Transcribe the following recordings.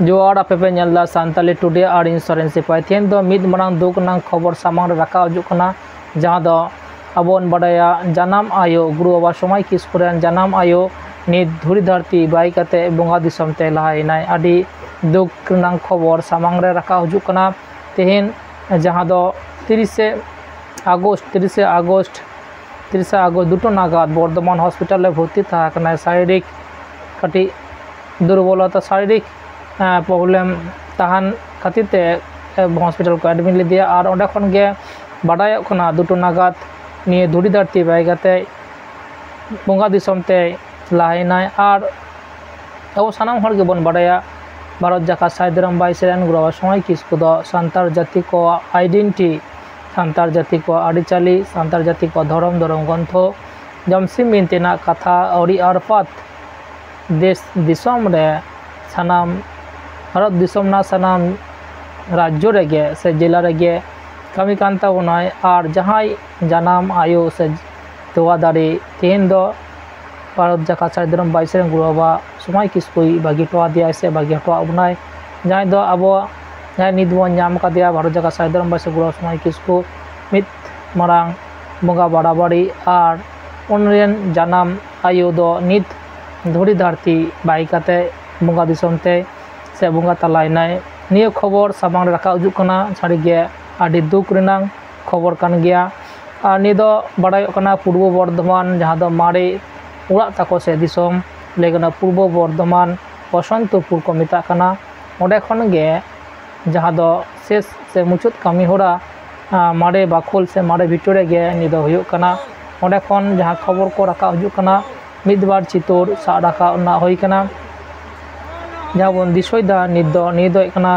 ᱡᱚᱦᱟᱨ ᱟᱯᱮ ᱯᱮ ᱧᱮᱞ ᱫᱟ ᱥᱟᱱᱛᱟᱞᱤ ᱴᱩᱰᱮ ᱟᱨ ᱤᱧ ᱥᱚᱨᱮᱱ ᱥᱤᱯᱟᱭ ᱛᱮᱦᱮᱧ ᱫᱚ ᱢᱤᱫ ᱢᱟᱨᱟᱝ ᱫᱩᱠ ᱨᱮᱱᱟᱜ ᱠᱷᱚᱵᱚᱨ ᱥᱟᱢᱟᱝ ᱨᱮ ᱨᱟᱠᱟᱵ ᱦᱤᱡᱩᱜ ᱠᱟᱱᱟ ᱡᱟᱦᱟᱸ ᱫᱚ ᱟᱵᱚ ᱵᱚᱱ ᱵᱟᱰᱟᱭᱟ ᱡᱟᱱᱟᱢ ᱟᱭᱳ ᱜᱩᱨᱩ ᱵᱟᱵᱟ ᱥᱚᱢᱟᱭ ᱠᱤᱥᱠᱩ ᱨᱮᱱ ᱡᱟᱱᱟᱢ ᱟᱭᱳ ᱱᱤᱛ ᱫᱷᱩᱲᱤ ᱫᱷᱟᱹᱨᱛᱤ ᱵᱟᱭ ᱠᱟᱛᱮ ᱵᱚᱸᱜᱟ ᱫᱤᱥᱚᱢ ᱛᱮ ᱞᱟᱦᱟ ᱮᱱᱟᱭ ᱟᱹᱰᱤ ᱫᱩᱠ ᱨᱮᱱᱟᱜ ᱠᱷᱚᱵᱚᱨ ᱥᱟᱢᱟᱝ ᱨᱮ ᱨᱟᱠᱟᱵ ᱦᱤᱡᱩᱜ ᱠᱟᱱᱟ ᱛᱮᱦᱮᱧ ᱡᱟᱦᱟᱸ ᱫᱚ ᱛᱤᱨᱤᱥᱮ ᱟᱜᱚᱥᱴ ᱛᱤᱨᱤᱥᱮ ᱟᱜᱚᱥᱴ ᱛᱤᱨᱤᱥᱮ ᱟᱜᱚᱥᱴ ᱫᱩᱴᱟ ᱱᱟᱜᱟᱫ ᱵᱚᱨᱫᱷᱚᱢᱟᱱ ᱦᱚᱥᱯᱤᱴᱟᱞ ᱨᱮ ᱵᱷᱚᱨᱛᱤ ᱛᱟᱦᱮᱸ ᱠᱟᱱᱟᱭ ᱥᱟᱨᱤᱨᱤᱠ ᱠᱟᱹᱴᱤᱡ ᱫᱩᱨᱵᱚᱞᱚᱛᱟ ᱥᱟᱨᱤᱨᱤᱠ ᱯᱨᱚᱵᱞᱮᱢ ᱛᱟᱦᱮᱱ ᱠᱷᱟᱹᱛᱤᱨ ᱛᱮ ᱦᱚᱥᱯᱤᱴᱟᱞ ᱠᱚ ᱮᱰᱢᱤᱴ ᱞᱮᱫᱮᱭᱟ ᱟᱨ ᱚᱸᱰᱮ ᱠᱷᱚᱱ ᱜᱮ ᱵᱟᱰᱟᱭᱚᱜ ᱠᱟᱱᱟ ᱫᱩᱴᱳ ᱱᱟᱜᱟᱫ ᱱᱤᱭᱟᱹ ᱫᱷᱩᱲᱤ ᱫᱷᱟᱹᱨᱛᱤ ᱵᱟᱹᱜᱤ ᱠᱟᱛᱮᱫ ᱵᱚᱸᱜᱟ ᱫᱤᱥᱚᱢ ᱛᱮᱭ ᱞᱟᱦᱟᱭᱮᱱᱟᱭ ᱟᱨ ᱟᱵᱚ ᱥᱟᱱᱟᱢ ᱦᱚᱲ ᱜᱮᱵᱚᱱ ᱵᱟᱰᱟᱭᱟ ᱵᱷᱟᱨᱚᱛ ᱡᱟᱠᱟᱛ ᱥᱟᱹᱦᱤᱫ ᱨᱟᱢ ᱵᱷᱟᱭ ᱥᱮ ᱮᱱ ᱜᱨᱚᱦᱚ ᱥᱚᱢᱟᱭ ᱠᱤᱥᱠᱩ ᱫᱚ ᱥᱟᱱᱛᱟᱲ ᱡᱟᱹᱛᱤ ᱠᱚᱣᱟᱜ ᱟᱭᱰᱮᱱᱴᱤ ᱥᱟᱱᱛᱟᱲ ᱡᱟᱹᱛᱤ ᱠᱚᱣᱟᱜ ᱟᱹᱨᱤᱪᱟᱹᱞᱤ ᱥᱟᱱᱛᱟᱲ ᱡᱟᱹᱛᱤ ᱠᱚᱣᱟᱜ ᱫᱷᱚᱨᱚᱢ ᱫᱷᱚᱨᱚᱢ ᱜᱨᱚᱱᱛᱷᱚ ᱡᱚᱢᱥᱤᱢ ᱵᱤᱱᱛᱤ ᱨᱮᱱᱟᱜ ᱠᱟᱛᱷᱟ ᱟᱹᱣᱨᱤ ᱟᱨ ᱯᱟᱛ ᱫᱮᱥ ᱫᱤᱥᱚᱢ ᱨᱮ ᱥᱟᱱᱟᱢ ᱵᱷᱟᱨᱚᱛ ᱫᱤᱥᱚᱢ ᱨᱮᱱᱟᱜ ᱥᱟᱱᱟᱢ ᱨᱟᱡᱽᱡᱚ ᱨᱮᱜᱮ ᱥᱮ ᱡᱮᱞᱟ ᱨᱮᱜᱮ ᱠᱟᱹᱢᱤ ᱠᱟᱱ ᱛᱟᱵᱚᱱᱟᱭ ᱟᱨ ᱡᱟᱦᱟᱸᱭ ᱡᱟᱱᱟᱢ ᱟᱭᱳ ᱥᱮ ᱛᱚᱣᱟ ᱫᱟᱨᱮ ᱛᱮᱦᱮᱧ ᱫᱚ ᱵᱷᱟᱨᱚᱛ ᱡᱟᱠᱟᱛ ᱥᱟᱹᱫᱷᱤᱱ ᱨᱮᱱ ᱵᱟᱭᱤᱥᱮ ᱨᱮᱱ ᱜᱩᱨᱩ ᱵᱟᱵᱟ ᱥᱳᱢᱟᱭ ᱠᱤᱥᱠᱩᱭ ᱵᱟᱹᱜᱤ ᱦᱚᱴᱚ ᱟᱫᱮᱭᱟᱭ ᱥᱮ ᱵᱟᱹᱜᱤ ᱦᱚᱴᱚ ᱟᱫ ᱵᱚᱱᱟᱭ ᱡᱟᱦᱟᱸᱭ ᱫᱚ ᱟᱵᱚ ᱡᱟᱦᱟᱸᱭ ᱱᱤᱛ ᱵᱚᱱ ᱧᱟᱢ ᱠᱟᱫᱮᱭᱟ ᱵᱷᱟᱨᱚᱛ ᱡᱟᱠᱟᱛ ᱥᱟᱹᱫᱷᱤᱱ ᱨᱮᱱ ᱵᱟᱭᱤᱥᱮ ᱜᱩᱨᱩ ᱵᱟᱵᱟ ᱥᱳᱢᱟᱭ ᱠᱤᱥᱠᱩ ᱢᱤᱫ ᱢᱟᱨᱟᱝ ᱵᱚᱸᱜᱟ ᱵᱟᱨᱟᱵᱟᱹᱨᱤ ᱟᱨ ᱩᱱᱤ ᱨᱮᱱ ᱡᱟᱱᱟᱢ ᱟᱭᱳ ᱫᱚ ᱱᱤᱛ ᱫᱷᱩᱲᱤ ᱫᱷᱟᱹᱨᱛᱤ ᱵᱟᱭ ᱠᱟᱛᱮ ᱵᱚᱸᱜᱟ ᱫᱤᱥᱚᱢ ᱛᱮ ᱥᱮ ᱵᱚᱸᱜᱟ ᱛᱟᱞᱟᱭᱮᱱᱟᱭ ᱱᱤᱭᱟᱹ ᱠᱷᱚᱵᱚᱨ ᱥᱟᱢᱟᱝ ᱨᱮ ᱨᱟᱠᱟᱵ ᱦᱤᱡᱩᱜ ᱠᱟᱱᱟ ᱥᱟᱹᱨᱤᱜᱮ ᱟᱹᱰᱤ ᱫᱩᱠ ᱨᱮᱱᱟᱜ ᱠᱷᱚᱵᱚᱨ ᱠᱟᱱ ᱜᱮᱭᱟ ᱟᱨ ᱱᱤᱭᱟᱹ ᱫᱚ ᱵᱟᱰᱟᱭᱚᱜ ᱠᱟᱱᱟ ᱯᱩᱨᱵᱚ ᱵᱚᱨᱫᱷᱚᱢᱟᱱ ᱡᱟᱦᱟᱸ ᱫᱚ ᱢᱟᱨᱮ ᱚᱲᱟᱜ ᱛᱟᱠᱚ ᱥᱮ ᱫᱤᱥᱚᱢ ᱞᱟᱹᱭ ᱜᱟᱱᱚᱜᱼᱟ ᱯᱩᱨᱵᱚ ᱵᱚᱨᱫᱷᱚᱢᱟᱱ ᱵᱚᱥᱚᱱᱛᱚᱯᱩᱨ ᱠᱚ ᱢᱮᱛᱟᱜ ᱠᱟᱱᱟ ᱚᱸᱰᱮ ᱠᱷᱚᱱ ᱜᱮ ᱡᱟᱦᱟᱸ ᱫᱚ ᱥᱮᱥ ᱥᱮ ᱢᱩᱪᱟᱹᱫ ᱠᱟᱹᱢᱤ ᱦᱚᱨᱟ ᱢᱟᱨᱮ ᱵᱟᱠᱷᱳᱞ ᱥᱮ ᱢᱟᱨᱮ ᱵᱷᱤᱴᱟᱹ ᱨᱮᱜᱮ ᱱᱤᱭᱟᱹ ᱫᱚ ᱦᱩᱭᱩᱜ ᱠᱟᱱᱟ ᱚᱸᱰᱮ ᱠᱷᱚᱱ ᱡᱟᱦᱟᱸ ᱠᱷᱚᱵᱚᱨ ᱠᱚ ᱨᱟᱠᱟᱵ ᱦᱤᱡᱩᱜ ᱠᱟᱱᱟ ᱢᱤᱫ ᱵᱟᱨ ᱪᱤᱛᱟᱹᱨ ᱥᱟᱵ ᱨᱟᱠᱟᱵ ᱨᱮᱱᱟᱜ ᱦᱩᱭ ᱠᱟᱱᱟ ᱡᱟᱦᱟᱸ ᱵᱚᱱ ᱫᱤᱥᱟᱹᱭᱮᱫᱟ ᱱᱤᱛ ᱫᱚ ᱱᱤᱭᱟᱹ ᱫᱚ ᱦᱩᱭᱩᱜ ᱠᱟᱱᱟ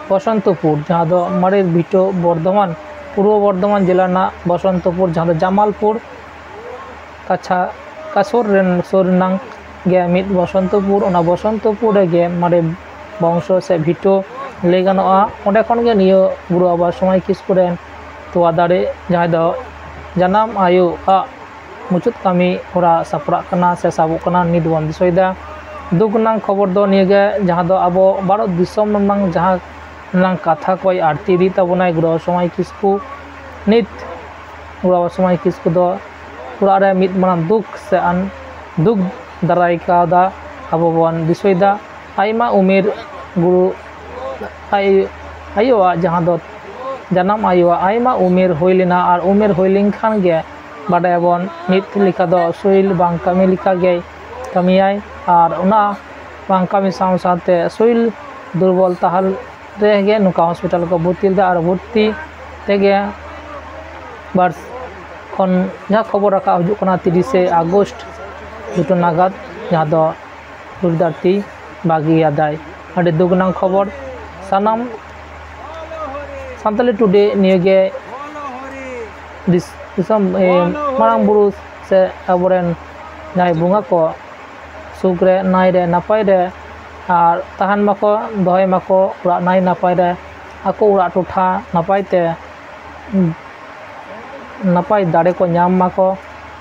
ᱵᱚᱥᱚᱱᱛᱚᱯᱩᱨ ᱡᱟᱦᱟᱸ ᱫᱚ ᱢᱟᱨᱮ ᱵᱷᱤᱴᱟᱹ ᱵᱚᱨᱫᱷᱚᱢᱟᱱ ᱯᱩᱨᱵᱚ ᱵᱚᱨᱫᱷᱚᱢᱟᱱ ᱡᱮᱞᱟ ᱨᱮᱱᱟᱜ ᱵᱚᱥᱚᱱᱛᱚᱯᱩᱨ ᱡᱟᱦᱟᱸ ᱫᱚ ᱡᱟᱢᱟᱞᱯᱩᱨ ᱠᱟᱪᱷᱟ ᱠᱟ ᱥᱩᱨ ᱨᱮᱱ ᱥᱩᱨ ᱨᱮᱱᱟᱝ ᱜᱮ ᱢᱤᱫ ᱵᱚᱥᱚᱱᱛᱚᱯᱩᱨ ᱚᱱᱟ ᱵᱚᱥᱚᱱᱛᱚᱯᱩᱨ ᱨᱮᱜᱮ ᱢᱟᱨᱮ ᱵᱚᱝᱥᱚ ᱥᱮ ᱵᱷᱤᱴᱟᱹ ᱞᱟᱹᱭ ᱜᱟᱱᱚᱜᱼᱟ ᱚᱸᱰᱮ ᱠᱷᱚᱱ ᱜᱮ ᱱᱤᱭᱟᱹ ᱜᱩᱨᱩ ᱵᱟᱵᱟ ᱥᱳᱢᱟᱭ ᱠᱤᱥᱠᱩ ᱨᱮᱱ ᱛᱚᱣᱟ ᱫᱟᱨᱮ ᱡᱟᱦᱟᱸᱭ ᱫᱚ ᱡᱟᱱᱟᱢ ᱟᱭᱳᱣᱟᱜ ᱢᱩᱪᱟᱹᱫ ᱠᱟᱹᱢᱤ ᱦᱚᱨᱟ ᱥᱟᱯᱲᱟᱜ ᱠᱟᱱᱟ ᱥᱮ ᱥᱟᱵᱚᱜ ᱠᱟᱱᱟ ᱱᱤᱛ ᱵᱚᱱ ᱫᱤᱥᱟᱹᱭᱮᱫᱟ ᱫᱩᱠ ᱨᱮᱱᱟᱜ ᱠᱷᱚᱵᱚᱨ ᱫᱚ ᱱᱤᱭᱟᱹ ᱜᱮ ᱡᱟᱦᱟᱸ ᱫᱚ ᱟᱵᱚ ᱵᱷᱟᱨᱚᱛ ᱫᱤᱥᱚᱢ ᱨᱮᱱᱟᱜ ᱡᱟᱦᱟᱸ ᱨᱮᱱᱟᱜ ᱠᱟᱛᱷᱟ ᱠᱚᱭ ᱟᱬᱛᱤ ᱤᱫᱤᱭᱮᱫ ᱛᱟᱵᱚᱱᱟᱭ ᱜᱨᱚᱦᱚ ᱥᱚᱢᱟᱭ ᱠᱤᱥᱠᱩ ᱱᱤᱛ ᱜᱨᱚᱦᱚ ᱥᱚᱢᱟᱭ ᱠᱤᱥᱠᱩ ᱫᱚ ᱚᱲᱟᱜ ᱨᱮ ᱢᱤᱫ ᱢᱟᱨᱟᱝ ᱫᱩᱠ ᱥᱮ ᱟᱱ ᱫᱩᱠ ᱫᱟᱨᱟᱭ ᱠᱟᱣᱫᱟ ᱟᱵᱚ ᱵᱚᱱ ᱫᱤᱥᱟᱹᱭᱮᱫᱟ ᱟᱭᱢᱟ ᱩᱢᱮᱨ ᱜᱩᱨᱩ ᱟᱡ ᱟᱭᱳᱣᱟᱜ ᱡᱟᱦᱟᱸ ᱫᱚ ᱡᱟᱱᱟᱢ ᱟᱭᱳᱣᱟᱜ ᱟᱭᱢᱟ ᱩᱢᱮᱨ ᱦᱩᱭ ᱞᱮᱱᱟ ᱟᱨ ᱩᱢᱮᱨ ᱦᱩᱭ ᱞᱮᱱᱠᱷᱟᱱ ᱜᱮ ᱵᱟᱰᱟᱭᱟᱵᱚᱱ ᱢᱤᱫ ᱞᱮᱠᱟ ᱫᱚ ᱥᱳᱭᱤᱞ ᱵᱟᱝ ᱠᱟᱹᱢᱤ ᱞᱮᱠᱟ ᱜᱮᱭ ᱠᱟᱹᱢᱤᱭᱟᱭ ᱟᱨ ᱚᱱᱟ ᱵᱟᱝ ᱠᱟᱹᱢᱤ ᱥᱟᱶ ᱥᱟᱶᱛᱮ ᱥᱳᱭᱤᱞ ᱫᱩᱨᱵᱚᱞ ᱛᱟᱦᱮᱱ ᱨᱮᱜᱮ ᱱᱚᱝᱠᱟ ᱦᱚᱥᱯᱤᱴᱟᱞ ᱨᱮᱠᱚ ᱵᱷᱚᱨᱛᱤ ᱞᱮᱫᱮᱭᱟ ᱟᱨ ᱵᱷᱚᱨᱛᱤ ᱛᱮᱜᱮ ᱵᱟᱨ ᱠᱷᱚᱱ ᱡᱟᱦᱟᱸ ᱠᱷᱚᱵᱚᱨ ᱨᱟᱠᱟᱵ ᱦᱤᱡᱩᱜ ᱠᱟᱱᱟ ᱛᱤᱨᱤᱥᱮ ᱟᱜᱚᱥᱴ ᱫᱩᱴᱟ ᱱᱟᱜᱟᱫ ᱡᱟᱦᱟᱸ ᱫᱚ ᱦᱩᱞ ᱫᱷᱟᱹᱨᱛᱤ ᱵᱟᱹᱜᱤ ᱟᱫᱟᱭ ᱟᱹᱰᱤ ᱫᱩᱠ ᱨᱮᱱᱟᱜ ᱠᱷᱚᱵᱚᱨ ᱥᱟᱱᱟᱢ ᱥᱟᱱᱛᱟᱞᱤ ᱴᱩᱰᱮ ᱱᱤᱭᱟᱹᱜᱮ ᱫᱤᱥᱚᱢ ᱢᱟᱨᱟᱝ ᱵᱩᱨᱩ ᱥᱮ ᱟᱵᱚ ᱨᱮᱱ ᱡᱟᱦᱟᱸᱭ ᱵᱚᱸᱜᱟ ᱠᱚ ᱥᱩᱠ ᱨᱮ ᱱᱟᱭ ᱨᱮ ᱱᱟᱯᱟᱭ ᱨᱮ ᱟᱨ ᱛᱟᱦᱮᱱ ᱢᱟᱠᱚ ᱫᱚᱦᱚᱭ ᱢᱟᱠᱚ ᱚᱲᱟᱜ ᱱᱟᱭ ᱱᱟᱯᱟᱭ ᱨᱮ ᱟᱠᱚ ᱚᱲᱟᱜ ᱴᱚᱴᱷᱟ ᱱᱟᱯᱟᱭ ᱛᱮ ᱱᱟᱯᱟᱭ ᱫᱟᱲᱮ ᱠᱚ ᱧᱟᱢ ᱢᱟᱠᱚ